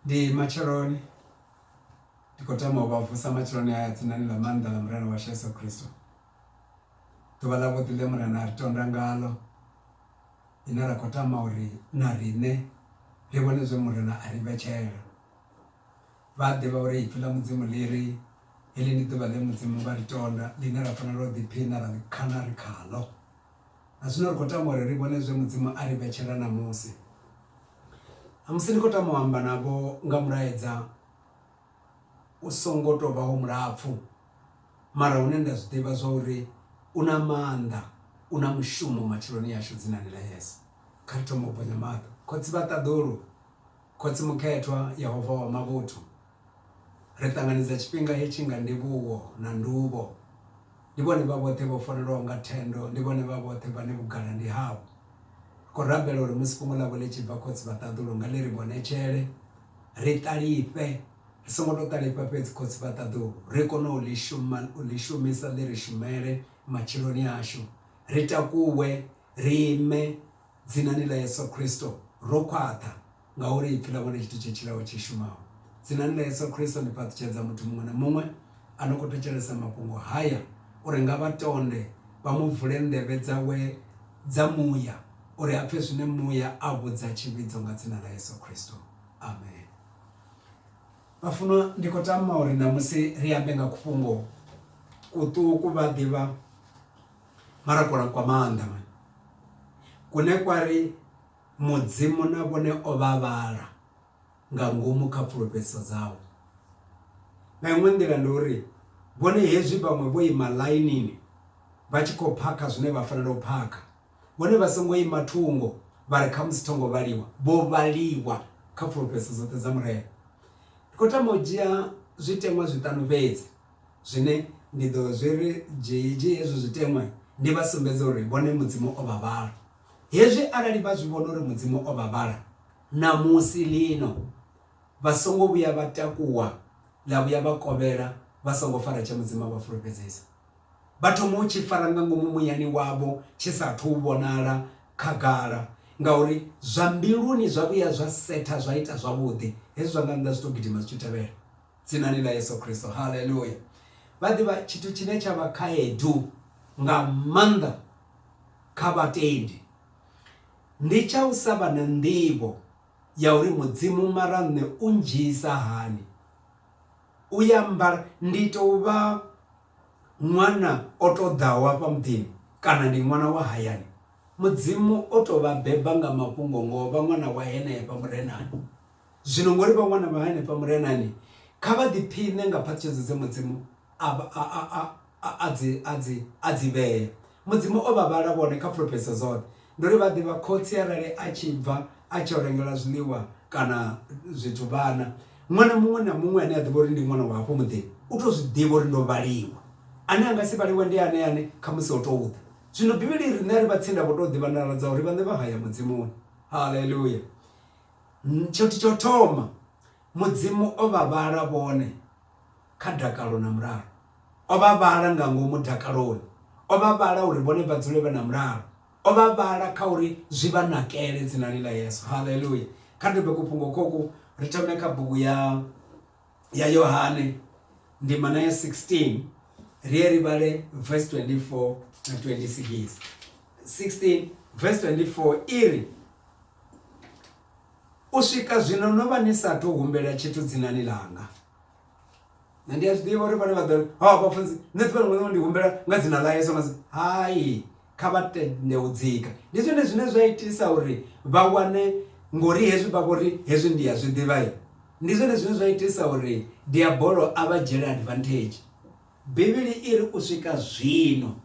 Ndi matsheloni ndi kho tama u vha vusa matsheloni haya dzinani ḽa maanḓa ḽa Murena washu Yeso Khristo. Ḓuvha ḽa vhuḓi ḽe Murena ari tonda ngaḽo ḽine ra kho tama uri na riṋe ri vhone zwe Murena ari vhetshela. Vha a ḓivha uri ipfhi ḽa Mudzimu ḽi ri heḽi ndi ḓuvha ḽe Mudzimu vha ḽi tonda ḽine ra fanela u ḓiphina ra ḽi khana ri khaḽo. Na zwino ri khou tama uri ri vhone zwe Mudzimu a ri vhetshela ṋamusi. Ṋamusi ndi khou tama u amba navho nga mulaedza u songo tou vhaho mulapfu mara une nda zwi ḓivha zwa uri u na maanḓa, u na mushumo matshiloni ashu dzinani ḽa Yesu. Kha ri thome u bonya maṱo. Khotsi vha ṱaḓulu, Khotsi Mukhethwa, Yehova wa mavhuthu. Ri ṱanganedza tshifhinga hetshi nga ndivhuwo na nduvho. Ndi vhone vha vhoṱhe vho farelwaho nga thendo, ndi vhone vha vhoṱhe vhane vhugala ndi havho. Ri khou rabela uri musi fhungo ḽavho ḽi tshi bva, Khotsi vha ṱaḓulu nga ḽi ri vhonetshele, ri ṱalifhe, ri songo tou ṱalifha fhedzi Khotsi vha ṱaḓulu, ri kone u ḽi shuma, u ḽi shumisa ḽi ri shumele matshiloni ashu, ri takuwe, ri ime Dzinani ḽa Yesu Khristo ro khwaṱha, Ngauri Ipfi ḽa vhone tshithu tshe tshilaho tshi shumaho. Dzinani ḽa Yesu Kristo ndi fhaṱutshedza muthu muṅwe na muṅwe a no khou thetshelesa mafhungo haya uri nga vha tonde vha mu vule nḓevhe dzawe dza muya uri a pfe zwine muya a vhudza tshivhidzo nga dzina ḽa Yesu Kristo. Amen. Vhafunwa, ndi khou tama uri ṋamusi ri ambe nga kufhungo kuṱuku vha ḓivha mara kwa maanḓa mani kune kwa ri Mudzimu na vhone o vha vhala nga ngomu kha pfulufhedziso dzawe. Nga iṅwe nḓila ndi uri, vhone hezwi vhaṅwe vho ima ḽainini vha tshi khou phakha zwine vha fanela u phakha, vhone vha songo ima thungo vha ri khamusi tho ngo vhaliwa, vho vhaliwa kha pfulufhedziso dzoṱhe dza Murena. Ndi khou tama u dzhia zwiteṅwa zwiṱanu fhedzi zwine ndi ḓo zwi ri dzhie hezwo zwiteṅwa ndi vha sumbedze uri vhone Mudzimu o vha vhala. Hezwi arali vha zwi vhona uri Mudzimu o vha vhala, ṋamusi, lino, vha songo vhuya vha takuwa ḽa vhuya vha kovhela vha songo fara tshe Mudzimu a vha fulufhedzisa. Vha thoma u tshi fara nga ngomu muyani wavho tshi sa athu u vhonala khagala, ngauri zwa mbiluni zwa vhuya zwa setha zwa ita zwavhuḓi, hezwi zwa nga nnḓa zwi tou gidima zwi tshi tevhela. Dzinani ḽa Yesu Kristo. Haleluya. Vha ḓivha tshithu tshine tsha vha khaedu nga maanḓa kha vhatendi ndi tsha u sa vha na nḓivho ya uri mudzimu mara nṋe u ndzhisa hani u ya mbala ndi tou vha ṅwana o to ḓaho afha muḓini kana ndi ṅwana wa hayani mudzimu o to vha beba nga mafhungo ngo vha ṅwana wa henefha murenani Zwino ngori vha wana vha hanefha murenani, kha vha ḓiphiṋe nga phaṱhutshedzo dze Mudzimu a a dzi vhea. Mudzimu o vha vhala vhone kha fulufhedzo dzoṱhe. Ndi uri vha ḓivha khotsi arali a tshi bva a tshi yo rengela zwiḽiwa kana zwithu vhana, ṅwana muṅwe na muṅwe ane a ḓivha uri ndi ṅwana wa hafho muḓini u tou zwi ḓivha uri ndo vhaliwa. Ane a nga si vhaliwe ndi ane ane khamusi o tou ḓa. Zwino Bivhili i ri ṋea ri vha tsinda vho tou ḓivha nḓala dza uri vhaṋe vha haya Mudzimuni. Haḽeluya! Tshithu tsho thoma Mudzimu o vha vhala vhone kha dakalo na mulalo. O vha vhala nga ngomu dakaloni, o vha vhala uri vhone vha dzule vhe na mulalo, o vha vhala kha uri zwi vha nakele dzinani ḽa Yesu. Haleluya! Kha ri dobe kufhungo khoku ri thome kha bugu ya ya yohane ndima na ya 16 ri ye ri vhale verse 24 na 26 16 verse 24 i ri u swika zwino no vha ni sathu humbela tshithu dzinani langa na ndi a zwi ḓivha uri vhane vha ḓo ha vhafunzi nṋe ḓuvha ḽiṅwe ḽiṅwe ndi humbela nga dzina ḽa yesu nga hai Kha vha tende u dzika. Ndi zwone zwine zwa itisa uri vha wane, ngori hezwi vha vhori hezwi ndi a zwi ḓivha. Ndi zwone zwine zwa itisa uri diabolo a vha dzhiele advantage. Bivhili i ri, U swika zwino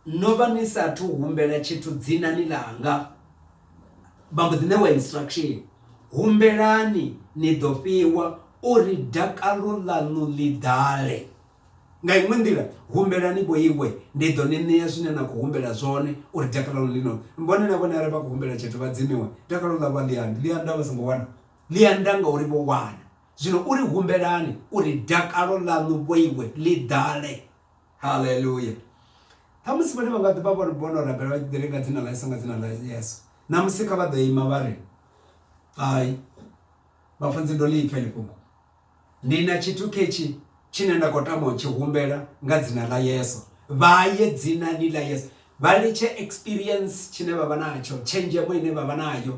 no vha ni sa athu humbela tshithu dzinani ḽanga. Vha mbo ḓi ṋewa instruction, Humbelani ni ḓo fhiwa, uri dakalo ḽaṋu ḽi ḓale. Nga iṅwe nḓila, humbelani vho iwe, ndi ḓo ni ṋea zwine na khou humbela zwone, uri dakalo ḽi no. Vhone na vhone arali vha khou humbela tshithu vha dzimiwe, dakalo ḽavho a ḽi andi. Ḽi anda vha songo wana? Ḽi anda ngauri vho wana. Zwino uri humbelani uri dakalo ḽaṋu vho iwe ḽi ḓale. Haleluya! Ṱhamusi vhone vha nga ḓi vha vho no rabela vha tshi ḓi ri, Nga dzina ḽa Yesu, nga dzina ḽa Yesu. Ṋamusi kha vha ḓo ima vha ri, Hai, vhafunzi ndo ḽi pfa heḽi fhungo. Ndi na tshithu ketshi tshine nda khou tama u tshi humbela nga dzina ḽa Yesu. Vha ye dzinani ḽa Yesu. Vha litshe experience tshine vha vha natsho, tshenzhemo ine vha vha nayo.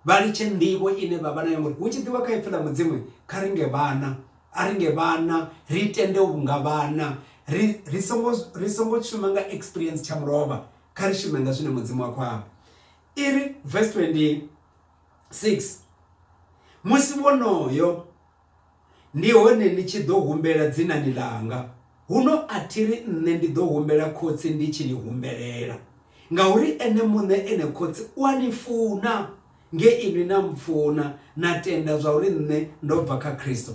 Vha litshe nḓivho ine vha vha nayo ngori hu tshi ḓiwa kha ipfi ḽa Mudzimu kha ri nge vhana. A ri nge vhana, ri tende u nga vhana. Ri ri songo ri songo shuma nga experience tsha mulovha, kha ri shume nga zwine Mudzimu a khou amba. I ri verse 20. 6 musi wonoyo ndi hone ni tshi ḓo humbela dzinani ḽanga, huno a thi ri nṋe ndi ḓo humbela Khotsi ndi tshi ni humbelela, ngauri ene muṋe ene Khotsi u a ni funa, nge inwi na mpfuna na tenda zwa uri nṋe ndo bva kha Kristo.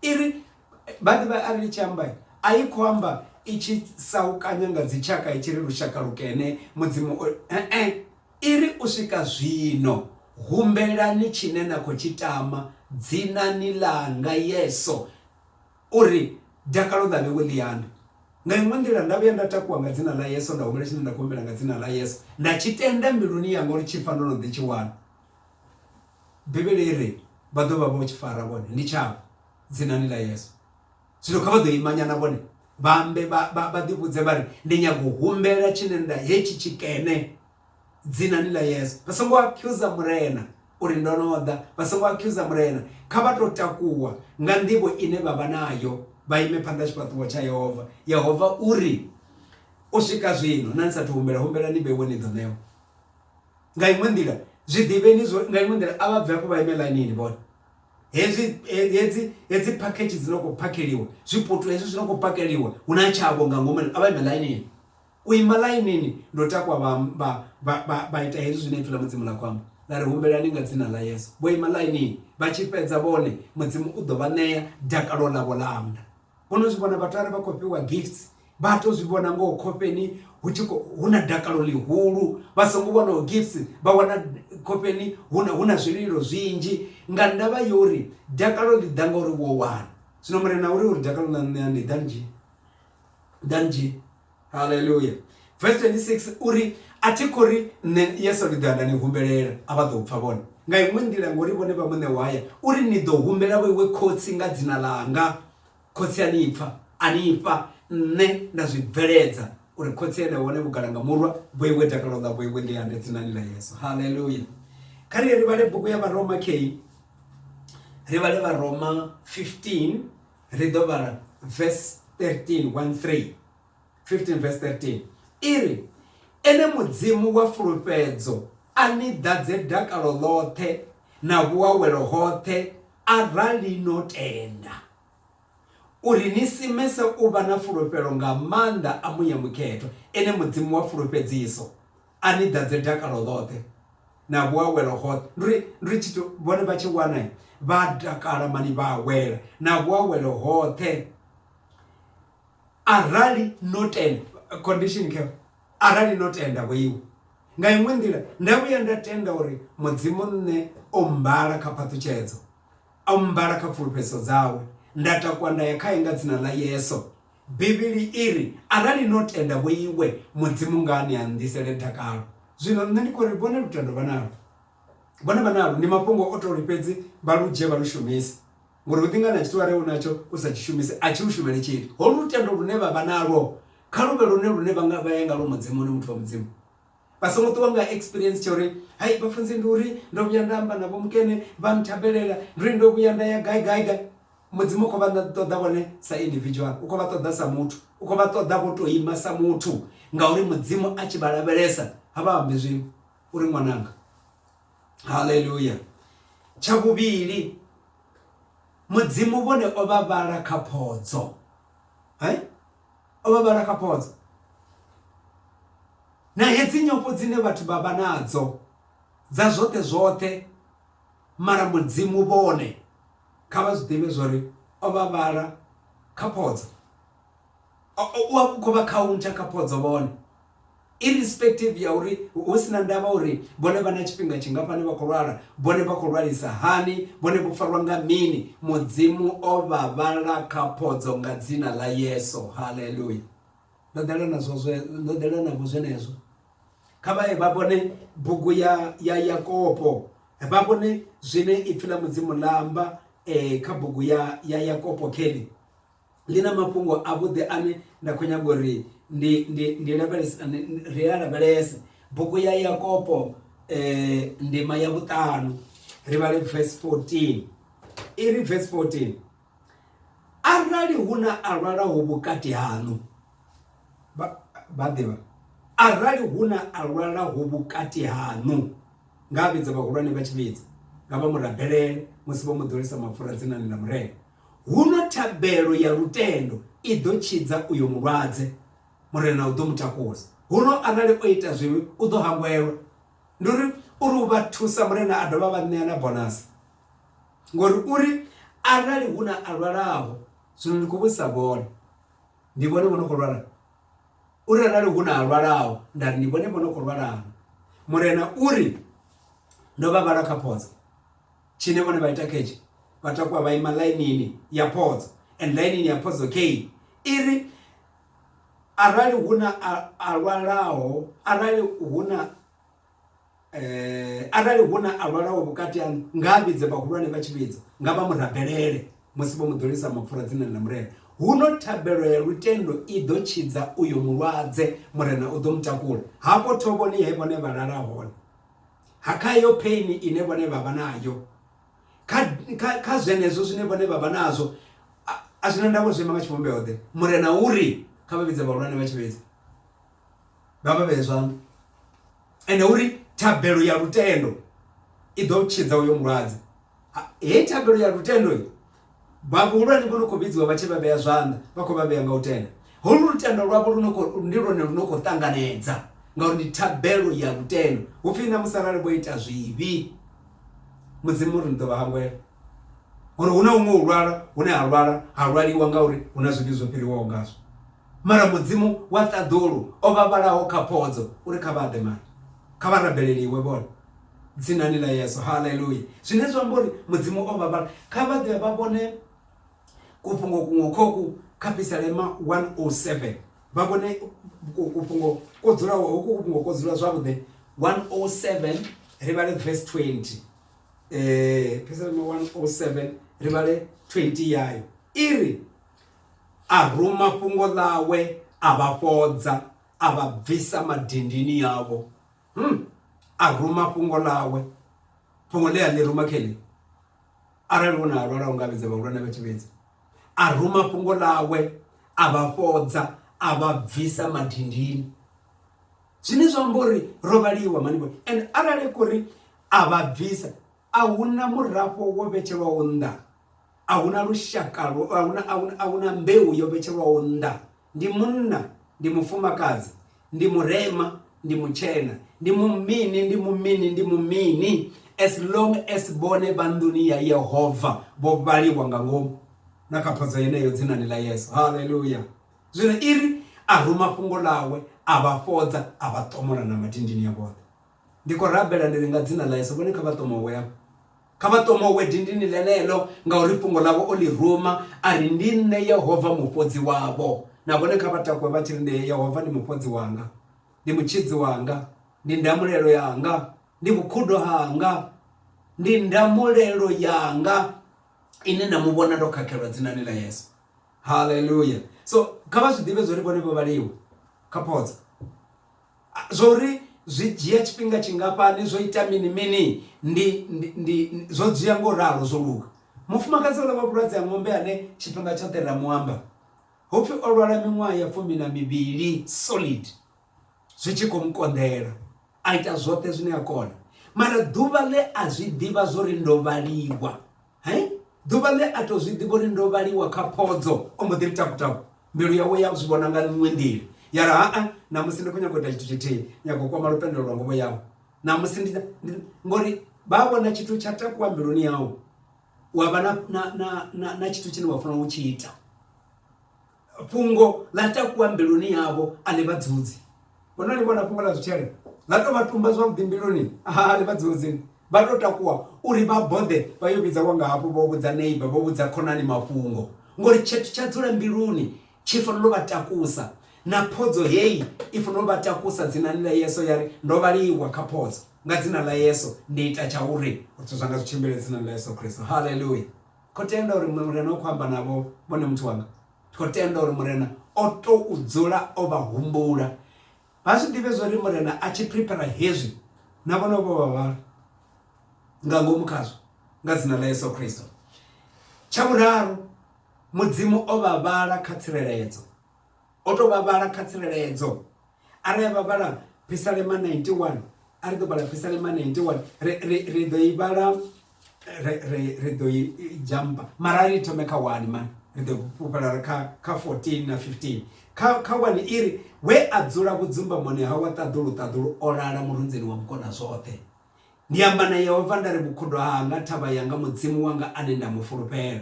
I ri vha ḓivha a ri ḽi tshi amba a i khou amba i tshi saukanya nga dzitshaka i tshi ri lushaka lukene mudzimu e-e. I ri, U swika zwino, humbelani tshine na khou tshi tama dzinani ḽanga Yeso, uri dakalo ḽa vhewe ḽiani. Nga iṅwe nḓila, nda vhuya nda takuwa nga dzina ḽa Yeso, nda humbela tshine nda khou humbela nga dzina ḽa Yeso, nda tshi tenda mbiluni yanga uri tshi pfa ndo no ḓi tshi wana. Bivhili i ri, Vha ḓo vha vho tshi fara vhone, ndi tshavho, dzinani ḽa Yeso. Zwino kha vha ḓo ima nyana vhone vha ambe vha, vha, vha ḓivhudze vha ri, Ndi nyaga u humbela tshine nda hetshi tshikene dzinani ḽa Yesu. Vha songo akhuza Murena uri ndo no ḓa, vha songo akhuza Murena. Kha vha tou takuwa nga nḓivho ine vha vha nayo vha ime phanḓa ha tshifhaṱuwo tsha Yehova. Yehova u ri, U swika zwino, na ni sathu humbela, humbelani ni vheiwe ni ḓo ṋewa. Nga iṅwe nḓila, zwi ḓivheni zwo ri, nga iṅwe nḓila, a vha bve afho vha ime ḽainini vhone. hezwi hedzi hedzi package dzi no khou phakheliwa zwiputu hezwi zwi no khou phakheliwa hu na tshavho nga ngomu a vha ime ḽainini u ima ḽainini ndo takwa vha vha vha vha ita hezwi zwine ipfhi ḽa mudzimu ḽa khou amba ḽa ri humbelani nga dzina ḽa yesu vho ima ḽainini vha tshi fhedza vhone mudzimu u ḓo vha ṋea dakalo ḽavho ḽa amba vho no zwi vhona vhathu arali vha khou fhiwa gifts vha to zwi vhona ngoho khofheni hu tshi hu na dakalo ḽihulu vha songo wanaho gifts vha wana khofheni hu na hu na zwililo zwinzhi nga ndavha ya uri dakalo ḽi ḓa ngauri wo wana zwino murena uri uri dakalo ḽa ṋea ndi ḓa nzhi ḓa nzhi haleluya verse 26 uri a thi khou ri nṋe yesu ndi ḓoya nda ni humbelela a vha ḓo pfha vhone nga iṅwe nḓila ngori vhone vha muṋe wa haya uri ni ḓo humbela vho iwe khotsi nga dzina ḽanga khotsi a ni pfha a ni fha nṋe nda zwi bveledza uri khotsi ene vhone vhugala nga murwa vho iwe dakalo ḽa vho iwe ndi yande dzinani ḽa yesu haleluya kha ri ri vhale bugu ya varoma kei ri vhale varoma 15 Ri ḓo vhala vesi 13, 1 3, 15 vesi 13 i ri, Ene Mudzimu wa fulufhedzo a ni ḓadze dakalo ḽoṱhe na vhuawelo hoṱhe arali no tenda, uri ni simese u vha na fulufhelo nga maanḓa a muya mukhethwa, ene Mudzimu wa fulufhedziso. A ni ḓadze dakalo ḽoṱhe na vhuawelo hoṱhe. Ndi uri, ndi uri tshithu vhone vha tshi wana vha a takala mani vha awela na vhuawelo hoṱhe. Arali no tenda, condition khe, arali no tenda vho iwe. Nga iṅwe nḓila, nda vhuya nda tenda uri Mudzimu nṋe o mmbala kha phaṱhutshedzo, o mmbala kha pfulufhedziso dzawe, nda takuwa nda ya khae nga dzina ḽa Yesu. Bivhili i ri, Arali no tenda vho iwe, Mudzimu nga a ni anḓisele dakalo. Zwino nṋe ndi khou ri vhone lutendo vha nalwo. Vhone vha nalwo, ndi mafhungo o tou ri fhedzi vha lu dzhie vha lu shumise. Ngori hu ḓi nga na tshithu arali u natsho u sa tshi shumise a tshi u shumeli tshithu. Holu lutendo lune vha vha nalwo kha lu vhe lwone lune vha nga vha ya ngalwo Mudimoni, muthu wa Mudzimu. Vha songo ṱuwa nga experience tsha uri hai vhafunzi ndi uri ndo vhuya nda amba na vho mukene vha nthabelela ndi uri ndo vhuya nda ya gai gai gai mudzimu u khou vha ṱoḓa vhone sa individual u khou vha ṱoḓa sa muthu u khou vha ṱoḓa vho tou ima sa muthu ngauri mudzimu a tshi vha lavhelesa ha vha ambi zwiṅwe uri ṅwananga haleluya tsha vhuvhili mudzimu vhone o vha vhala kha phodzo hai o vha vhala kha potso na hedzi nyofho dzine vhathu vha vha nadzo dza zwoṱhe zwoṱhe mara mudzimu vhone kha vha zwi ḓivhe zwori o vha vhala kha phodzo u a khou vha khauntsha kha phodzo vhone irrespective ya uri hu si na ndavha uri vhone vha na tshifhinga tshingafhani vha khou lwala vhone vha khou lwalisa hani vhone vho farwa nga mini mudzimu o vha vhala kha phodzo nga dzina ḽa yesu haleluya ndo ḓela nazwo zwe ndo ḓela navho zwenezwo kha vhaye vha vhone bugu ya ya yakopo vha vhone zwine ipfi ḽa mudzimu ḽa amba um kha bugu ya ya yakopo kelly ḽi na mafhungo a vhuḓi ane nda khou nyaga uri ndi ndi ndi lavhelese ri a lavhelese bugu ya Yakobo eh ndima ya vhuṱanu ri vhale verse 14 iri verse 14 arali hu na a lwalaho vhukati haṋu vha ḓivha arali hu na a lwalaho vhukati haṋu nga vhidza vhahulwane vha tshi vhidza nga vha murabelele musi vho mu ḓolisa mapfura dzinani ḽa murena Huno thabelo ya lutendo i ḓo tshidza uyo mulwadze, Murena u ḓo mu takusa. Huno arali o ita zwivhi, u ḓo hangwelwa. Ndi uri, uri u vha thusa, Murena a dovha a vha ṋea na bonasi. Ngori u ri, Arali hu na a lwalaho, zwino ndi khou vhudzisa vhone, ndi vhone vho no khou lwala. U ri, Arali hu na a lwalaho, nda ri ndi vhone vho no khou lwala na. Murena u ri, Ndo vha vhala kha photsa. Tshine vhone vha ita khetsho vha takuwa vha ima ḽainini ya phodzo and ḽainini ya phodzo kei i ri arali hu na a lwalaho arali hu na eh, arali hu na a lwalaho vhukati haṋu nga a vhidze vhahulwane vha tshi vhidza nga vha murabelele musi vho muḓolisa mapfura dzinani ḽa murena huno thabelo ya lutendo i ḓo tshidza uyo mulwadze murena u ḓo mutakula hafho thovhoni he vhone vha lala hone ha kha iyo pain ine vhone vha vha nayo kha kha kha zwenezwo zwine vhone vha vha nazwo a- a zwina ndavho zwi ima nga tshivhumbeo ḓe murena uri kha vha vhidze vhahulwane vha tshivhidza vha vha vhee zwanḓa ende uri thabelo ya lutendo i ḓo tshidza uyo mulwadze Ha- heyi thabelo ya lutendo i, Vha vhuhulwane vho no khou vhidziwa vha tshi vha vhea zwanḓa, vha khou vha vhea nga u tenda. Holu lutendo lwavho lu no khou, ndi lwone lu no khou ṱanganedza, ngauri ndi thabelo ya lutendo. Hu pfi, Ṋamusi arali vho ita zwivhi, Mudzimu u ri, Ni ḓo vha hangwela. Uri hu na huṅwe u lwala hune ha lwala, ha lwaliwa ngauri hu na zwivhi zwo fhiriwaho ngazwo. Mara Mudzimu wa ṱaḓulu o vha vhalaho kha phodzo, u ri, Kha vha ḓe, mara kha vha rabelele Iwe vhone. Dzinani ḽa Yesu. Haleluya! Zwine zwa amba uri Mudzimu o vha vhala. Kha vha ḓe vha vhone kufhungo kuṅwe kho ku kha Pisalema 107. Vha vhone kufhungo ko dzulaho, hoku kufhungo ko dzula zwavhuḓi. 107 ri vhale verse 20. Pisalema 107 ri vhale 20 yayo. I ri, A ruma fhungo ḽawe, a vha fhodza, a vha bvisa madindini avho. Hmm. a ruma fhungo ḽawe fhungo ḽe a ḽi ruma khe nṋe arali hu na a lwala u nga vhidza vhahulwane vha tshi vhidza a ruma fhungo ḽawe a vha fhodza a vha bvisa madindini zwine zwa amba uri ro vhaliwa manivho and arali kuri a vha bvisa a huna murafho wo vhetshelwaho nnḓa a huna lushaka ahuna mbeu yo vhetshelwaho nnḓa Ndi munna, ndi mufumakadzi, ndi murema, ndi mutshena, ndi mumini, ndi mumini, ndi mumini, as long as vhone vha nḓuni ya Yehova vho vhaliwa nga ngomu na kha phodzo yeneyo dzinani ḽa Yesu. Haleluya! Zwino iri a ruma fhungo ḽawe, a vha fhodza, a vha ṱomola na madindini a vhoṱhe. Ndi khou rabela ndi ri nga dzina ḽa Yesu, vhone kha vha ṱomowe afha. Kha vha ṱomowe dindini ḽeneḽo, ngauri fhungo ḽavho o ḽi ruma a ri, Ndi nṋe Yehova Mufhodzi wavho. Na vhone kha vha takuwe vha tshi ri, Ndi Yehova ndi Mufhodzi wanga, ndi Mutshidzi wanga, ndi ndamulelo yanga, ndi vhukhudo hanga, ndi ndamulelo yanga ine nda mu vhona ndo khakhelwa, dzinani ḽa Yesu. Haleluya! So, kha vha zwi ḓivhe zwa uri vhone vho vhaliwa kha Potso. Zwa uri zwi dzhia tshifhinga tshingafhani, zwo ita mini mini, ndi, ndi, ndi, zwo dzhia nga u ralo, zwo luga. Mufumakadzi uḽa wa vhulwadze ha ṅombe ane tshifhinga tshoṱhe ra mu amba, ho pfi o lwala miṅwaha ya fumi na mivhili solid, zwi tshi khou mu konḓela, a ita zwoṱhe zwine a kona, mara ḓuvha ḽe a zwi ḓivha zwa uri ndo vhaliwa, Hai! Ḓuvha ḽe a tou zwi ḓivha uri ndo vhaliwa kha phodzo, o mbo ḓi ri taku-taku. Mbilu yawe ya zwi vhona nga iṅwe nḓila, ya ri, Ha-a, ṋamusi ndi khou nyaga u ita tshithu tshithihi, nyaga u kwama lupendelo lwa nguvho yau. Ṋamusi ndi, ndi, ngori vha vhona tshithu tsha takuwa mbiluni yau, wa vha na, na, na, na, na tshithu tshine wa fanela u tshi ita. fhungo ḽa takuwa mbiluni yavho a ḽi vha dzudzi vhona ni vhona fhungo ḽa zwitshele ḽa tou vha tumba zwavhuḓi mbiluni a ḽi vha dzudzi vha tou takuwa uri vha boḓe vha yo vhidza wanga hafho vho vhudza neiba vho vhudza khonani mafhungo ngori tshithu tsha dzula mbiluni tshi fanela u vha takusa na phodzo heyi i fanela u vha takusa dzinani ḽa yeso ya ri ndo vhaliwa kha phodzo nga dzina ḽa yeso ndi ita tsha uri zwithu zwanga zwi tshimbile dzinani ḽa yeso khristo haleluya khou tenda uri Murena u khou amba navho vhone muthu wanga. Ndi khou tenda uri Murena o tou dzula o vha humbula. Vha zwi ḓivhe zwo ri Murena a tshi priphera hezwi, na vhone vho vha vha nga ngomu khazwo, nga dzina ḽa Yesu Kristo. Tsha vhuraru, Mudzimu o vha vhala kha tsireledzo. O tou vha vhala kha tsireledzo arali a vha vhala phisalema 91 a ri ḓo vhala phisalema 91 ri ri ri ḓo i vhala ri ri ri ḓo i jamba mara ri thome kha wani mani ri ḓo fhufhela ri kha kha 14 na 15 kha kha wani i ri we a dzula vhudzumbamoni ha wa ṱaḓulu ṱaḓulu o lala murunzini wa mukona zwoṱhe Ndi amba na Yehova nda ri, Vhukhudo hanga, thavha yanga, Mudzimu wanga ane nda mu fulufhela,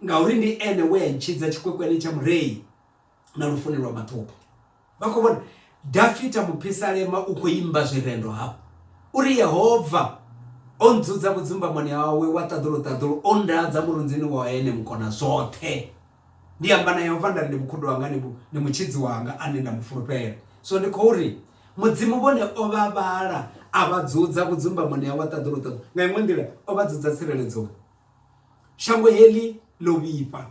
ngauri ndi ene we a ntshidza tshikwekwene tsha murei na lufuni lwa maṱhupho. Vha khou vhona Dafita mupisalema u khou imba zwirendo hafha u ri, Yehova o ndzudza vhudzumbamoni hawe wa ṱaḓulu-ṱaḓulu, o nndadza murunzini wa ene Mukonazwoṱhe. Ndi amba na Yehova nda ri, Ndi vhukhudo hanga, ndi ndi mutshidzi wanga ane nda mu fulufhela. Zwino ndi khou ri, Mudzimu vhone o vha vhala, a vha dzudza vhudzumbamoni hawe ha ṱaḓuluṱaḓulu. Nga iṅwe nḓila, o vha dzudza tsireledzoni. Shango heḽi ḽo vhifha.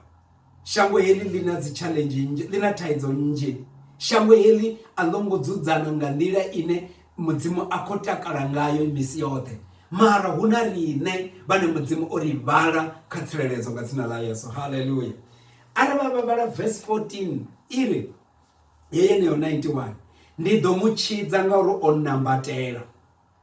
Shango heḽi ḽi na dzi tshaḽenzhi nnzhi, ḽi na thaidzo nnzhi. Shango heḽi a ḽo ngo dzudzana nga nḓila ine mudzimu a khou takala ngayo misi yoṱhe mara hu na riṋe vhane mudzimu o ri vhala kha tsireledzo nga dzina ḽa yesu halleluya are vha vha vhala vesi 14 i ri ye yeneyo 91 ndi ḓo mu tshidza ngauri o nambatela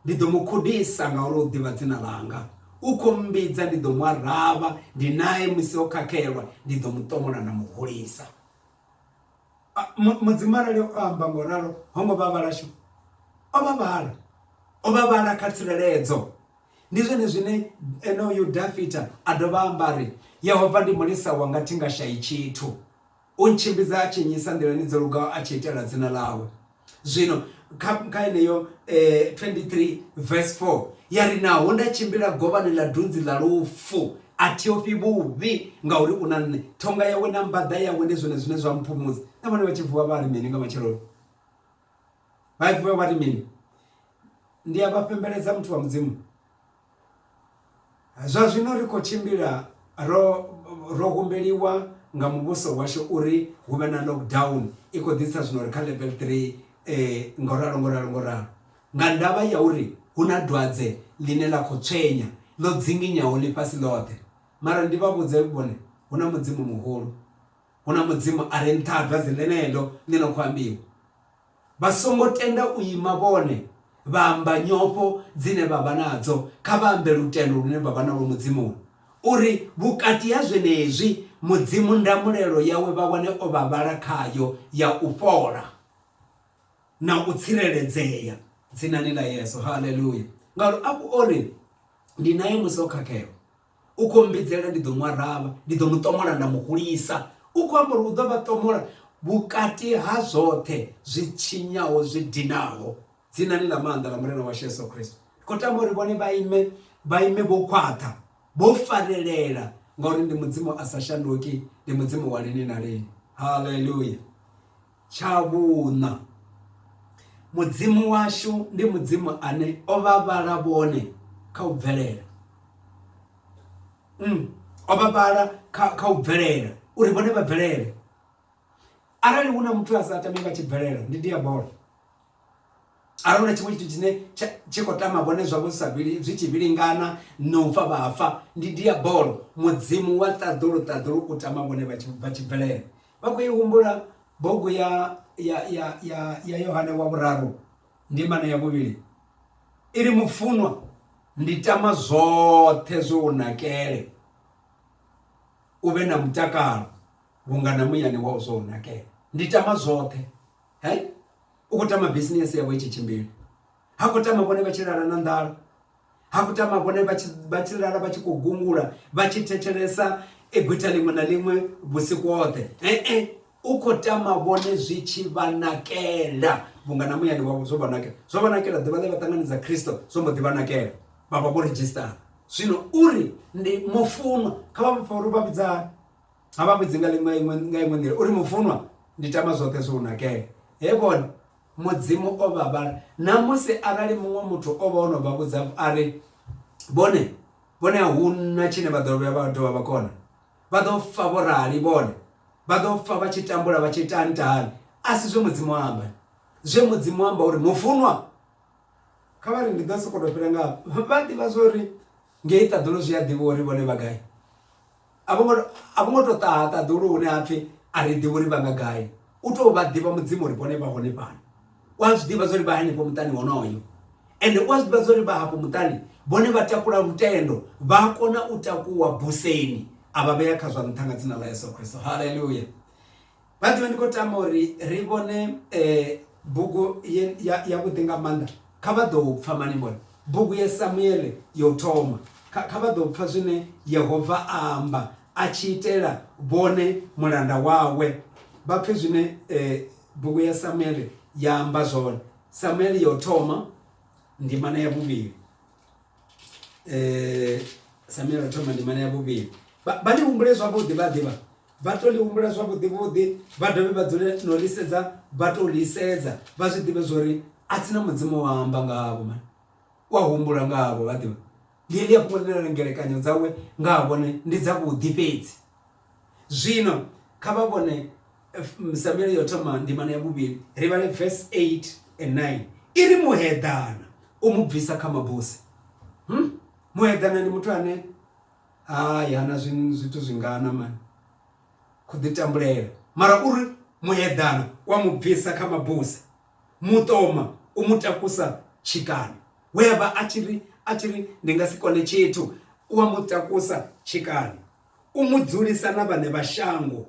ndi ḓo mu khudisa ngauri u ḓivha dzina ḽanga u khou mmbidza ndi ḓo mu araba ndi naye musi o khakhelwa ndi ḓo mu ṱomola na muhulisa Mudzimu arali o amba ngo ralo ho ngo vha vhala shame o vha vhala o vha vhala kha tsireledzo. Ndi zwone zwine onoyu Dafita a dovha amba ari Yehova ndi mulisa wanga thi nga shayi tshithu, u ntshimbidza a tshi nnyisa nḓilani dzo lugaho a tshi itela dzina ḽawe. Zwino kha kha yeneyo 23 verse 4 ya ri naho nda tshimbila govhani ḽa dunzi ḽa lufu a thi ofhi vhuvhi ngauri u na nṋe ṱhonga yawe na mbaḓa yawe ndi zwone zwine zwa mphumudza na vhone vha tshi vuwa vha ri mini nga matsheloni vha vuwa vha ri mini ndi a vha fhembeledza muthu wa mudzimu Zwa zwino ri khou tshimbila ro ro humbeliwa nga muvhuso washu uri hu vhe na lockdown i kho ḓi isa zwino ri kha level three ngo ralo ngo ralo ngo ralo nga ndavha ya uri hu na dwadze ḽine ḽa kho tswenya ḽo dzinginyaho ḽifhasi ḽoṱhe. Mara ndi vha vhudze vhone hu na mudzimu muhulu hu na mudzimu a re nṱha ha dwadze ḽeneḽo ḽi no kho ambiwa. Vha songo tenda u ima vhone, vha amba nyofho dzine vha vha nadzo, kha vha ambe lutendo lune vha vha nalwo Mudzimuni, uri vhukati ha zwenezwi Mudzimu ndamulelo yawe vha wane o vha vhala khayo ya u fhola na u tsireledzea, dzinani ḽa Yesu. Haleluya! Ngauri afho o ri, Ndi nae musi o khakhelwa, U khou mbidzela, ndi ḓo mu aravha, ndi ḓo mu ṱomola nda mu hulisa. U khou amba uri u ḓo vha ṱomola vhukati ha zwoṱhe zwi tshinyaho zwi dinaho dzinani ḽa maanḓa ḽa Murena washu Yesu Kristo. Ndi khou tama uri vhone vha ime vha ime vho khwaṱha vho farelela ngauri ndi mudzimu a sa shanduki ndi mudzimu wa lini na lini haleluya Tsha vhuṋa, Mudzimu washu ndi Mudzimu ane o vha vhala vhone kha u bvelela. Mm, o vha vhala kha kha u bvelela uri vhone vha bvelele. Arali hu na muthu a sa tami vha tshi bvelela ndi diabola. a hu na tshiṅwe tshithu tshine tshi khou tama vhone zwavho zwi sa zwi tshi vhilingana na u fa vha fa ndi diabolo mudzimu wa ṱaḓulu ṱaḓulu u tama vhone vha tshi bvelela vha khou i humbula bugu ya ya ya ya ya yohane wa vhuraru ndimana ya vhuvhili i ri mufunwa ndi tama zwoṱhe zwo u nakele u vhe na mutakalo vhunga na muyani wa u zwo u nakele ndi tama zwoṱhe hai u khou tama bisinese yawe i tshi tshimbila ha khou tama vhone vha tshi lala na nḓala ha khou tama vhone vha tshi lala vha tshi khou gungula vha tshi thetshelesa egwitha ḽiṅwe na ḽiṅwe vhusiku hoṱhe ee u khou tama vhone zwi tshi vha nakela vhunga na muyani wavho zwo vha nakela zwo vha nakela ḓuvha ḽe vha ṱanganedza khristo zwo mbo ḓi vha nakela vha vha vho redzhisitara zwino uri ndi mufunwa kha vha pfa uri vha vhidza A vha vhudzi nga ḽiṅwe iṅwe nga iṅwe nḓila uri mufunwa ndi tama zwoṱhe zwo nakela he vhone mudzimu o vha vhala na musi arali muṅwe muthu o vha o no vha vhudza a ri vhone vhone a hu na tshine vha ḓo vhuya vha dovha vha kona vha ḓo fa vho rali vhone vha ḓo fa vha tshi tambula vha tshi tanta hani a si zwe mudzimu amba zwe mudzimu amba uri mufunwa kha vha ri ndi ḓo sokou tou fhira nga vha ḓivha zwo ri Ngei ṱaḓulu zwi a ḓivhiwa uri vhone vha gai. A vho ngo, a vho ngo tou ṱaha ṱaḓulu hune ha pfi a ri ḓivhi uri vha nga gai. U tou vha ḓivha Mudzimu uri vhone vha hone fhano. U a zwi ḓivha zwa uri vha henefho muṱani honoyo. Ende u a zwi ḓivha zwa uri vha hafho muṱani vhone vha takula lutendo, vha a kona u takuwa buseni a vha vhea kha zwa nṱha nga dzina ḽa Yesu Kristo. Haleluya! By the way ndi khou tama uri ri vhone bugu yavhuḓi nga maanḓa kha vha ḓo pfha mani vhone bugu ya Samuele ya u thoma kha vha ḓo pfha zwine Yehova a amba a tshi itela vhone mulanda wawe vha pfhe zwine bugu ya Samuele ya amba zwone Samuele ya u thoma ndimana ya vhuvhili eh Samuel ri thoma ndimana ya vhuvhili vha vha ḽi humbule zwavhuḓi vha ḓivha vha to ḽi humbula zwavhuḓi vhuḓi vha dovhe vha dzule no ḽi sedza vha to ḽi sedza vha zwi ḓivhe zwori a tsina mudzimu wa amba nga havho mani u a humbula nga havho vha ḓivha ḽi ḽi a fhungo ḽi na ngelekanyo dzawe nga ha vhone ndi dza vhuḓi fhedzi. Zwino kha vha vhone Samuele yo thoma ndimana ya vhuvhili ri vhale verse 8 and 9 i ri muheḓana u mu bvisa kha mabusi hmm? muheḓana ndi muthu ane hayi hana zwithu zwingana mani khou ḓi tambulela mara uri muheḓana wa mu bvisa kha mabusi muṱoma u mu takusa tshikani we a vha a tshi ri a tshi ri ndi nga si kone tshithu u wa mu takusa tshikani U mu dzulisa na vhaṋe vha shango,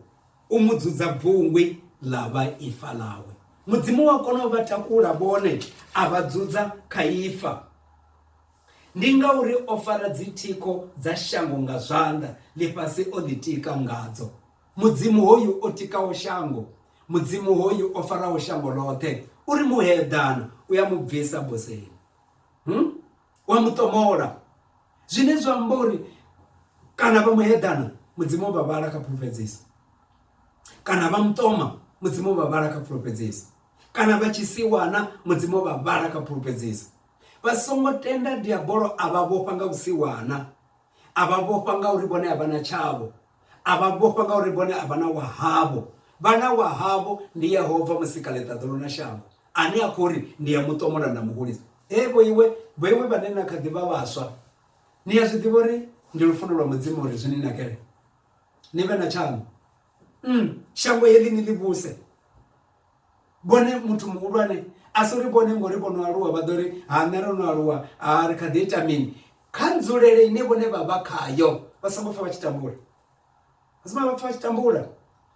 u mu dzudza bvungwi ḽa vha ifa ḽawe. Mudzimu wa kona u vha takula vhone, a vha dzudza kha ifa. Ndi ngauri o fara dzithikho dza shango nga zwanḓa, ḽifhasi o ḽitika ngadzo. Mudzimu hoyu o tikaho shango, Mudzimu hoyu o faraho shango ḽoṱhe, u ri muheḓana u a mu bvisa boseni. wa mu ṱomola zwine zwa amba uri kana vha muheḓana mudzimu vha vhala kha pfulufhedzisa kana vha muṱoma mudzimu vha vhala kha pfulufhedzisa kana vha tshisiwana mudzimu vha vhala kha pfulufhedzisa vha songo tenda diabolo a vha vhofha nga vhusiwana A vha vhofha ngauri vhone a vha na tshavho. A vha vhofha ngauri vhone a vha na wa havho. Vha na wa havho, ndi Yehova Musikaḽeṱaḓulu na shango, ane a khou ri, Ndi a mu ṱomola nda mu hulisa. Hee vhoiwe, vhoiwe vhane na kha ḓi vha vhaswa, ni a zwi ḓivha uri ndi lufuno lwa Mudzimu uri zwi ni nakele ni vhe na tshaṋu, um shango heḽi ni ḽi vhuse. vhone muthu muhulwane a si ri vhone ngori vho no aluwa vha ḓo ri ha nṋe ro no aluwa ha ri kha ḓi ita mini kha nzulele ine vhone vha vha khayo vha songo pfha vha tshi tambula vha songo vha pfha vha tshi tambula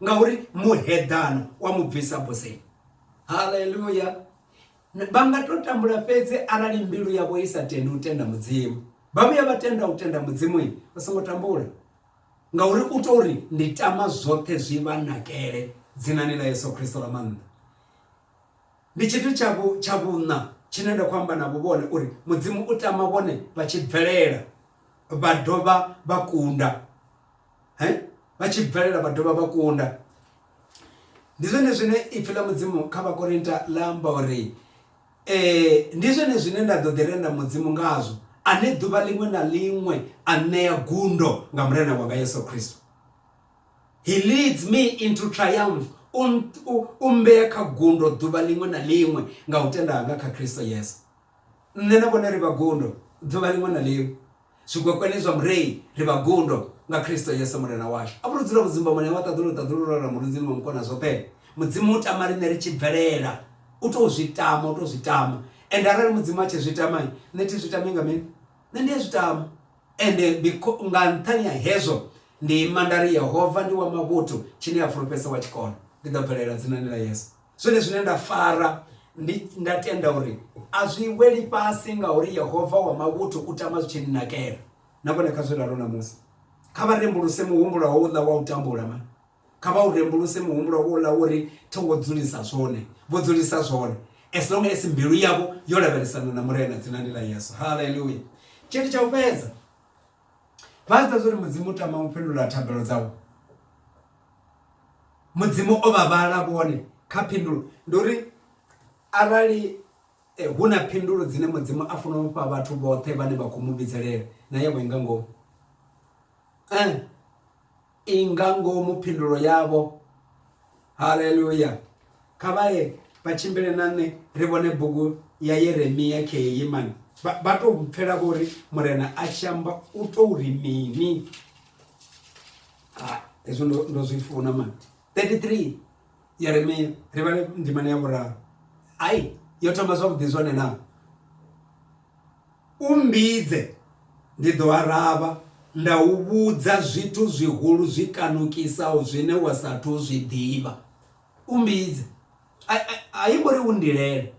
ngauri muheḓano wa mu bvisa boseni haleluya vha nga to tambula fhedzi arali mbilu yavho i sa tendi u tenda mudzimu vha vhuya vha tenda u tenda mudzimu vha songo tambula Ngauri u tou ri, Ndi tama zwoṱhe zwi vha nakele, dzinani ḽa Yesu Kristo ḽa maanḓa. Ndi tshithu tsha vhu, tsha vhuṋa tshine nda khou amba navho vhone, uri Mudzimu u tama vhone vha tshi bvelela vha dovha vha kunda. He? Vha tshi bvelela vha dovha vha kunda. Ndi zwone zwine Ipfi ḽa Mudzimu kha Vhakorinta ḽa amba uri, Ee, ndi zwone zwine nda ḓo ḓi renda Mudzimu ngazwo, ane ḓuvha ḽiṅwe na ḽiṅwe a nṋea gundo nga Murena wanga Yesu Kristo. He leads me into triumph, u, u, u mmbea kha gundo ḓuvha ḽiṅwe na ḽiṅwe nga u tenda hanga kha Kristo Yesu. Nṋe na vhone ri vha gundo ḓuvha ḽiṅwe na ḽiṅwe Zwigwekwene zwa Murei, ri vha gundo nga Kristo Yesu Murena washu. A vhu lu dzula vhu dzumbamoni ha wa ṱaḓulu u ṱaḓulu lwo ra murudzini wa Mukonazwoṱhe. Mudzimu u tama riṋe ri tshi bvelela. U tou zwi tama, u tou zwi tama. Ende arali Mudzimu a tshi zwi tama, nṋe thi zwi tami nga mini? Nṋe ndi a zwi tama. Ende nga nṱhani ha hezwo, ndi ima nda ri, Yehova ndi wa mavhuthu, tshine a fulufhedzisa wa tshi kona. Ndi ḓo bvelela dzinani ḽa Yesu. Zwone zwine nda fara ndi nda tenda uri a zwi weli fhasi ngauri Yehova wa mavhuthu u tama zwi tshi nnakela. Na vhone kha zwi ralo ṋamusi. Kha vha rembuluse muhumbulo houḽa wa u tambula ma. Kha vha u rembuluse muhumbulo wouḽa wo ri thi wo dzulisa zwone, vho dzulisa zwone. As long as mbilu yavho yo lavhelesana na Murena dzinani ḽa Yesu. Haleluya! Tshithu tsha u fhedza. Vha zwi ḓivha zwa uri Mudzimu u tama u fhindula thabelo dzavho. Mudzimu o vha vhala vhone kha phindulo. Ndi uri arali hu na phindulo dzine Mudzimu a funa u fha vhathu vhoṱhe vhane vha khou mu vhidzelela na yavho i nga ngomu. I nga ngomu phindulo yavho. Haleluya! Kha vha ye vha tshimbile na nṋe ri vhone bugu ya Yeremia khei. Mani vha, vha tou pfela vho ri Murena a tshi amba u tou ri mini? Ah, hezwo ndo, ndo zwi funa mani. 33 Yeremia ri vhale ndimana ya vhuraru. Hai, yo thoma zwavhuḓi zwone na? U mmbidze, ndi ḓo aravha, nda u vhudza zwithu zwihulu zwi kanukisaho zwine wa sa athu u zwi ḓivha. U mmbidze. A i ngo ri u ndilele,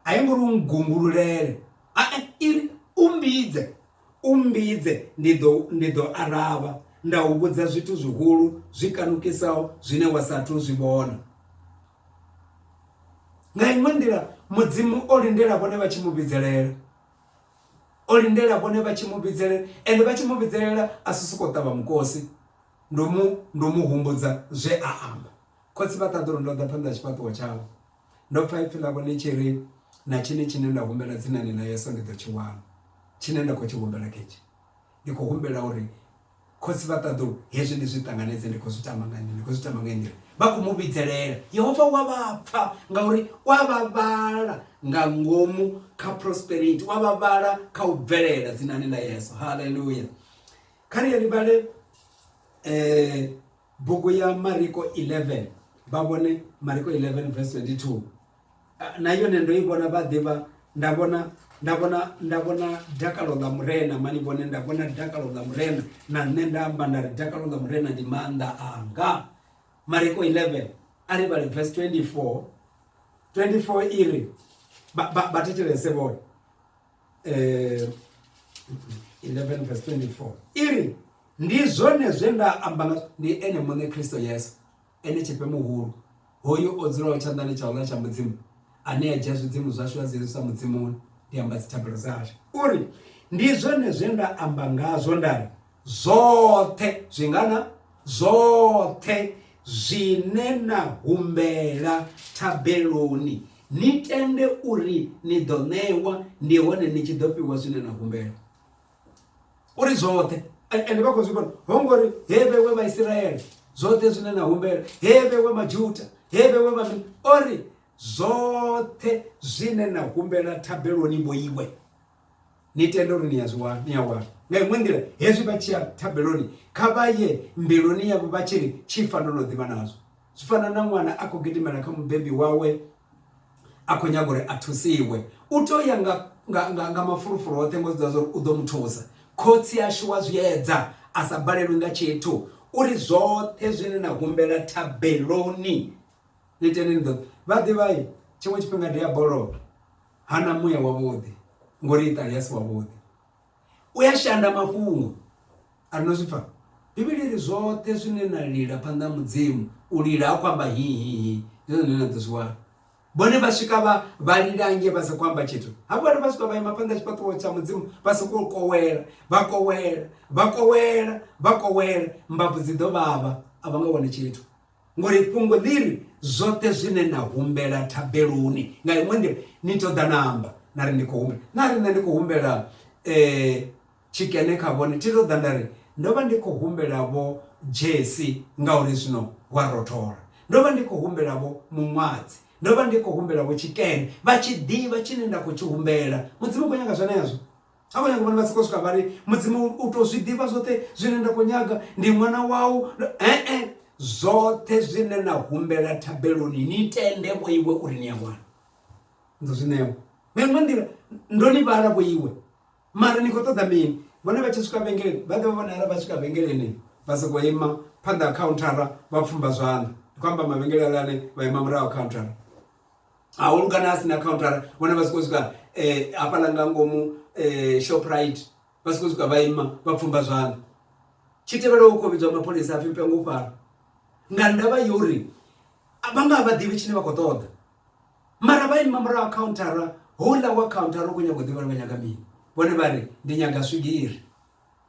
a i ngo ri u nngungululele, a-e, i ri, U mmbidze, u mmbidze, ndi ḓo, ndi ḓo aravha, nda u vhudza zwithu zwihulu zwi kanukisaho zwine wa sa athu u zwi vhona. Nga iṅwe nḓila mudzimu o lindela vhone vha tshi mu vhidzelela o lindela vhone vha tshi mu vhidzelela ende vha tshi mu vhidzelela a si sokou ṱavha mukosi ndo mu ndo mu humbudza zwe a amba khotsi vha ṱaḓa uri ndo ḓa phanḓa ha tshifhaṱuwo tshavho ndo pfha ipfhi ḽa vhone tshi ri na tshini tshine nda humbela dzinani ḽa yeso ndi ḓo tshi wana tshine nda khou tshi humbela khetsho ndi khou humbela uri Khotsi vha ṱaḓulu, hezwi ni zwi ṱanganedze, ndi khou zwi tama nga nnyi? Ni khou zwi tama nga heyi nḓila. Vha khou mu vhidzelela. Yehova u a vha pfa ngauri u a vha vhala nga ngomu kha prosperity, u a vha vhala kha u bvelela dzinani ḽa Yesu. Haleluya! Kha ri ye ri vhale eh, bugu ya Mariko 11 vha vhone Mariko 11 verse 22. na yone ndo i vhona vha ḓivha nda vhona nda vhona nda vhona dakalo ḽa murena mani vhone nda vhona dakalo ḽa murena na nṋe nda amba nda ri dakalo ḽa murena ndi maanḓa anga mariko 11 a ri vhale verse 24 24 i ri vha thetshelese vhone eh, 11 verse 24 i ri ndi zwone zwe nda amba ndi ene muṋe kristo yesu Ene Tshifhe Muhulu, hoyu o dzulaho tshanḓani tsha uḽa tsha Mudzimu, ane a dzhia zwidzimu zwashu a zwi hezwisa Mudzimuni, ndi amba dzithabelo dzashu. U ri, Ndi zwone zwe nda amba ngazwo nda ri, Zwoṱhe, zwingana? Zwoṱhe zwine na humbela thabeloni, ni tende uri ni ḓo ṋewa, ndi hone ni tshi ḓo fhiwa zwine na humbela. uri zwoṱhe ende vha khou zwi vhona ho ngori he vhewe vhaisiraele zwoṱhe zwine na humbela he vhewe majuta he vhewe vhamini o ri zwoṱhe zwine na humbela thabeloni mo iwe ni tende uri ni a zwi wana ni a wana nga iṅwe nḓila hezwi vha tshi ya thabeloni kha vha ye mbiluni yavho vha tshi ri tshi fanela u ḓivha nazwo zwi fana na ṅwana a khou gidimela kha mubebi wawe a khou nyaga uri a thusiwe u tea u ya nga nga nga nga mafulufulu oṱhe ngo zwiḓivha zwori u ḓo mu thusa khotsi ashu wa zwiedza a sa balelwi nga tshithu uri zwoṱhe zwine na humbela thabeloni ni tene ni ḓo vha ḓivhai tshiṅwe tshifhinga diabolo hana muya wavhuḓi ngori iṱali a si wavhuḓi u ya shanda mafhungo a no zwipfa bivhili ri zwoṱhe zwine na lila phanḓa ha mudzimu u lila ha khou amba hihihi ndi zwone na ḓo zwi wana vhone vha swika vha vha lila nge vha sa khou amba tshithu hafho vhone vha swika vha ima phanḓa tshifhaṱuwo tsha mudzimu vha sokou kowela vha kowela vha kowela vha kowela mbabvu dzi ḓo vhavha a vha nga wane tshithu Ngori fhungo ḽiri zwoṱhe zwine na humbela thabeloni nga iṅwe nḓila ni ṱoḓa namba na ri ndi khou humbela na ri nṋe ndi khou humbela eh tshikene kha vhone thi ṱoḓa nda ri ndo vha ndi khou humbela vho Jesi ngauri zwino wa rothola ndo vha ndi khou humbela vho muṅwadzi ndo vha ndi khou humbela vho tshikene vha tshi ḓivha tshine nda khou tshi humbela mudzimu u khou nyanga zwenezwo Havho nyaga vhone vha soko swika vha ri mudzimu u to zwi ḓivha zwoṱhe zwine nda khou nyaga ndi ṅwana wau ee zwoṱhe zwine na humbela thabeloni ni tende vho iwe uri ni a wana ndo zwi ṋewa nga iṅwe nḓila ndo ni vhala vho iwe mara ni khou ṱoḓa mini vhone vha tshi swika vhengeleni vha ḓivha vhone ara vha swika vhengeleni vha soko ima phanḓa ha khauntara vha pfumba zwanḓa ndi khou amba mavhengele alane vha ima murahu khauntara hahulu kana a sina countara vhona vha si khou swika eh, hafhaḽa nga ngomu eh, shoprite vha si khou swika vha ima vha pfumba zwanḓa tshi tevhela u khou vhidzwa mapholisa a pfhi mpengo u fara nga ndavha yo uri vha nga vha ḓivhi tshine vha khou ṱoḓa mara vha ima murahu countara houḽa wa countara u khou nyaga u ḓivha uri vha nyaga mini vhone vha ri ndi nyaga swigiri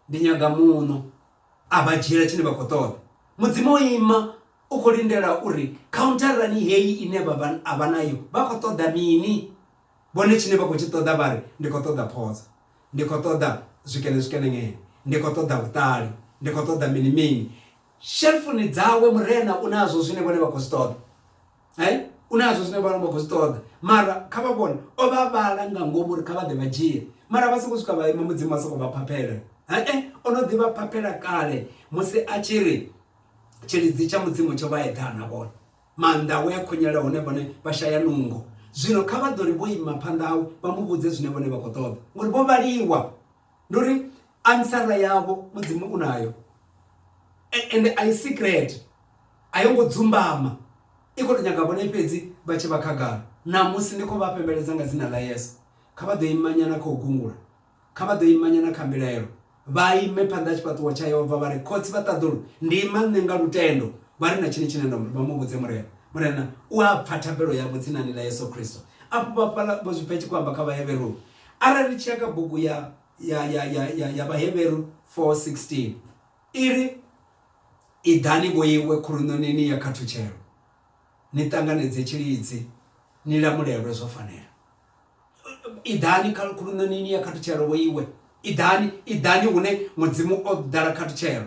ndi nyaga muno a vha dzhiela tshine vha khou ṱoḓa mudzimu o ima u khou lindela uri khauntarani heyi ine vha vha a vha nayo vha khou ṱoḓa mini vhone tshine vha khou tshi ṱoḓa vha ri ndi khou ṱoḓa phodzo ndi khou ṱoḓa zwikene zwikenengene ndi khou ṱoḓa vhuṱali ndi khou ṱoḓa mini mini shelfuni dzawe murena u nazwo zwine vhone vha khou zwi ṱoḓa hai u na zwo zwine vha vha khou zwi ṱoḓa mara kha vha vhone o vha vhala nga ngomu uri kha vha ḓe vha dzhie mara vha sokou swika vha ima mudzimu vha sokou vha phaphela hae o no ḓi vha phaphela kale musi a tshi ri tshilidzi tsha mudzimu tsho vha eḓana vhone maanḓa awe a khonyela hone vhone vha shaya nungo zwino kha vha ḓo ri vho ima phanḓa awe vha mu vhudze zwine vhone vha khou ṱoḓa ngori vho vhaliwa ndi uri ansara yavho mudzimu u nayo ende a i secret a yo ngo dzumbama i khou tou nyaga vhone fhedzi vha tshi vha khagala ṋamusi ndi khou vha fhembeledza nga dzina ḽa yesu kha vha ḓo imanyana kha u gungula kha vha ḓo imanyana kha mbilaelo vha ime phanḓa ha tshifhaṱuwo tsha yehova vha ri khotsi vha ṱaḓulu ndi ima nṋe nga lutendo vha ri na tshini tshine nda vha mu vhudze murena murena u a pfa thabelo yavho dzinani ḽa yesu kristo afho vha fhala vho zwi pfa tshi khou amba kha vhaheveroni Arali ri tshi ya kha bugu ya, ya, ya, ya, ya, ya Vhahevheru 4:16, i ri, Iḓani vhoiwe khuluṋonini ya khathutshelo, ni ṱanganedze tshilidzi, ni lamulelwe zwo fanela. Iḓani kha khuluṋonini ya khathutshelo vhoiwe. Iḓani, iḓani hune Mudzimu o ḓala khathutshelo.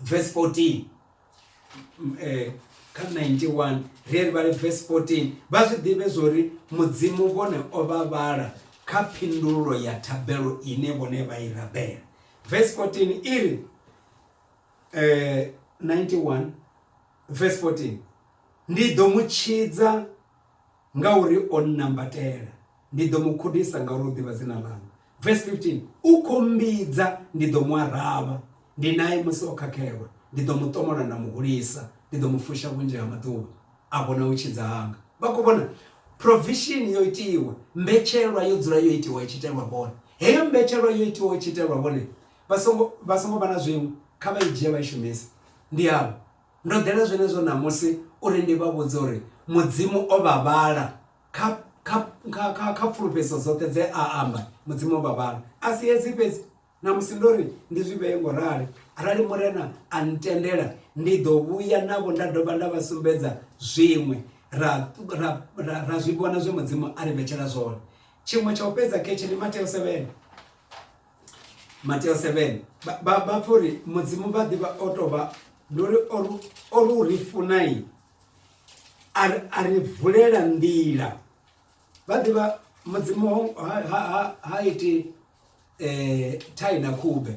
verse 14 mm, eh, kha 91 ri ri vhale verse 14 vha zwi ḓivhe zwori mudzimu vhone o vha vhala kha phindulo ya thabelo ine vhone vha i rabela verse 14 iri eh 91 verse 14 ndi ḓo mu tshidza Ngauri o nnambatela, ndi ḓo mu khudisa, ngauri u ḓivha dzina ḽanga. Verse 15, U khou mmbidza, ndi ḓo mu aravha, ndi nae musi o khakhelwa, ndi ḓo mu ṱomola nda mu hulisa, ndi ḓo mu fusha vhunzhi ha maḓuvha a vhona u tshidza hanga. Vha khou vhona? Provision yo itiwa, mbetshelwa yo dzula yo itiwa i tshi itelwa vhone. Heyo mbetshelwa yo itiwa i tshi itelwa vhone, vha songo vha songo vha na zwiṅwe, kha vha i dzhie vha i shumise. Ndi avho Ndo ḓela zwenezwo ṋamusi uri ndi vha vhudze uri Mudzimu o vha vhala kha, kha, kha, kha, kha pfulufhedziso dzoṱhe dze a amba. Mudzimu o vha vhala. A si hezwi fhedzi, ṋamusi ndo ri ndi zwi vhee ngo rali, Arali Murena a ntendela, ndi ḓo vhuya navho nda dovha nda vha sumbedza zwiṅwe, ra, ra, ra, ra zwi vhona zwe Mudzimu a ri vhetshela zwone. Tshiṅwe tsha u fhedza khetshe ndi Mateo 7. Mateo 7 vha vha vha pfha uri mudzimu vha ḓivha o tou vha ndi uri o ri- o ri u ri funai a ri- a ri vulela nḓila vha ḓivha mudzimu ho- ha, ha, ha, ha iti eh, thai na khube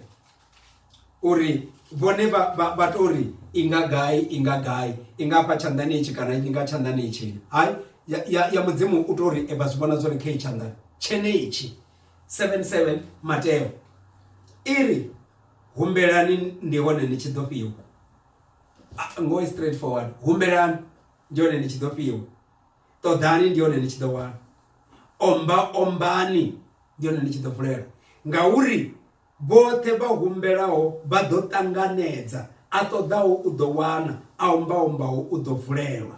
uri vhone vha vha vha to ri i nga gai i nga gai i nga fha tshanḓani itshi kana i nga tshanḓani itshini hai ya, ya, ya mudzimu u to ri e vha zwi vhona zwo ri kha i tshanḓani tshenetshi 77 Mateo i ri humbelani ndi hone ni tshi ḓo fhiwa ngo i straight forward humbelani ndi hone ni tshi ḓo fhiwa ṱoḓani ndi hone ni tshi ḓo wana omba ombani ndi hone ni tshi ḓo vulelwa ngauri vhoṱhe vha humbelaho vha ḓo ṱanganedza a ṱoḓaho u ḓo wana a omba ombaho u ḓo vulelwa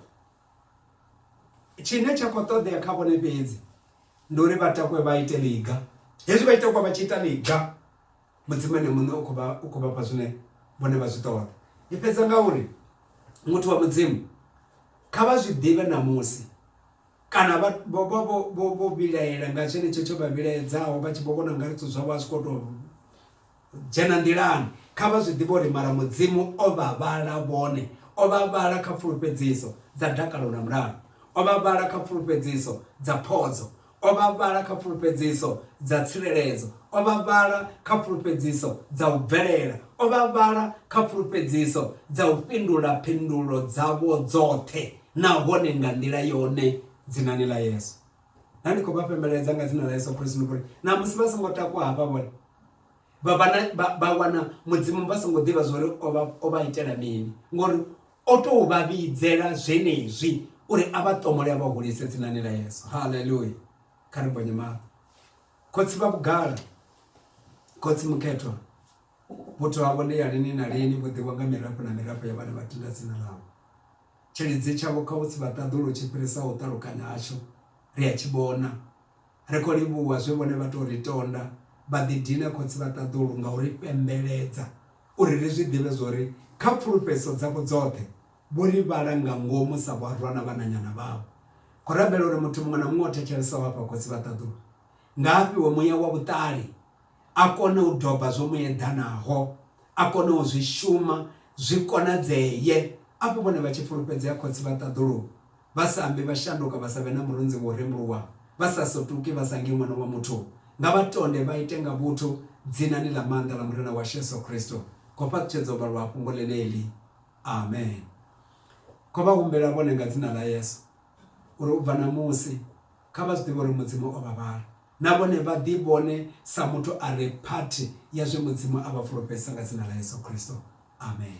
Tshine tsha khou ṱoḓea kha vhone fhedzi ndi uri vha takwe vha ite ḽiga hezwi vha ita kwa vha tshi ita ḽiga mudzimu ene muṋe u khou vha u khou vhafha zwine vhone vha zwi ṱoḓa ndi fhedza nga uri muthu wa mudzimu kha vha zwi ḓivhe ṋamusi kana vha vho vha vho vho vho vhilaela nga tshenetsho tsho vha vhilaedzaho vha tshi vho vhona nga zwithu zwavho a zwi khou tou Dzhena nḓilani. Kha vha zwi ḓivhe uri mara Mudzimu o vha vhala vhone, o vha vhala kha pfulufhedziso dza dakalo na mulalo, o vha vhala kha pfulufhedziso dza phodzo, o vha vhala kha pfulufhedziso dza tsireledzo, o vha vhala kha pfulufhedziso dza u bvelela, o vha vhala kha pfulufhedziso dza u fhindula phindulo dzavho dzoṱhe, nahone nga nḓila yone, Dzinani ḽa Yesu. na ndi khou vha fhembeledza nga dzina ḽa yesu khristu ndi kuri namusi vha songo takuwa hafha vhone vha wana mudzimu vha songo ḓivha zwori o vha itela mini ngori o tou vha vhidzela zwenezwi uri a vha ṱomole a vha hulise dzinani ḽa yesu haleluya kha ri bonye maṱo khotsi vha vhugala khotsi mukhethwa vhuthu havho ndi ya lini na lini vho ḓiwa nga mirafho na mirafho ya vhana vha tenda dzina ḽavho Tshilidzi tshavho kha u tsivha ṱaḓulu tshi fhirisa u ṱalukanya hashu. Ri a tshi vhona. Ri khou livhuwa zwe vhone vha tou ri tonda vha ḓidine Khotsi vha ṱaḓulu nga u ri fhembeledza uri ri zwi ḓivhe zwa uri kha pfulufhedziso dzavho dzoṱhe vho ri vhala nga ngomu sa vharwa na vhananyana vhavho. Khou rabela uri muthu muṅwe na muṅwe o thetshelsaho afha Khotsi vha ṱaḓulu nga a fhiwe muya wa vhuṱali a kone u doba zwo mu eḓanaho, a kone u zwi shuma, zwi konadzee. Afho vhone vha tshi fulufhedzea Khotsi vha ṱaḓuluwa, vha sa ambi, vha shanduka, vha sa vhe na murunzi wo rembuluwaho, vha sa sotuki, vha sa ngi Ṅwana wa muthu, nga vha tonde, vha ite nga vhuthu, Dzinani ḽa maanḓa ḽa Murena washu Yesu Kristo. Khou fhaṱutshedza u vhalwa ha fhungo ḽeneḽi. Amen. Khou vha humbela vhone nga Dzina ḽa Yesu, uri u bva ṋamusi, Kha vha zwi ḓivhe uri Mudzimu o vha vhala, na vhone vha ḓivhone sa muthu a re phathi ya zwe Mudzimu a vha fulufhedzisa nga dzina ḽa Yesu Kristo. Amen.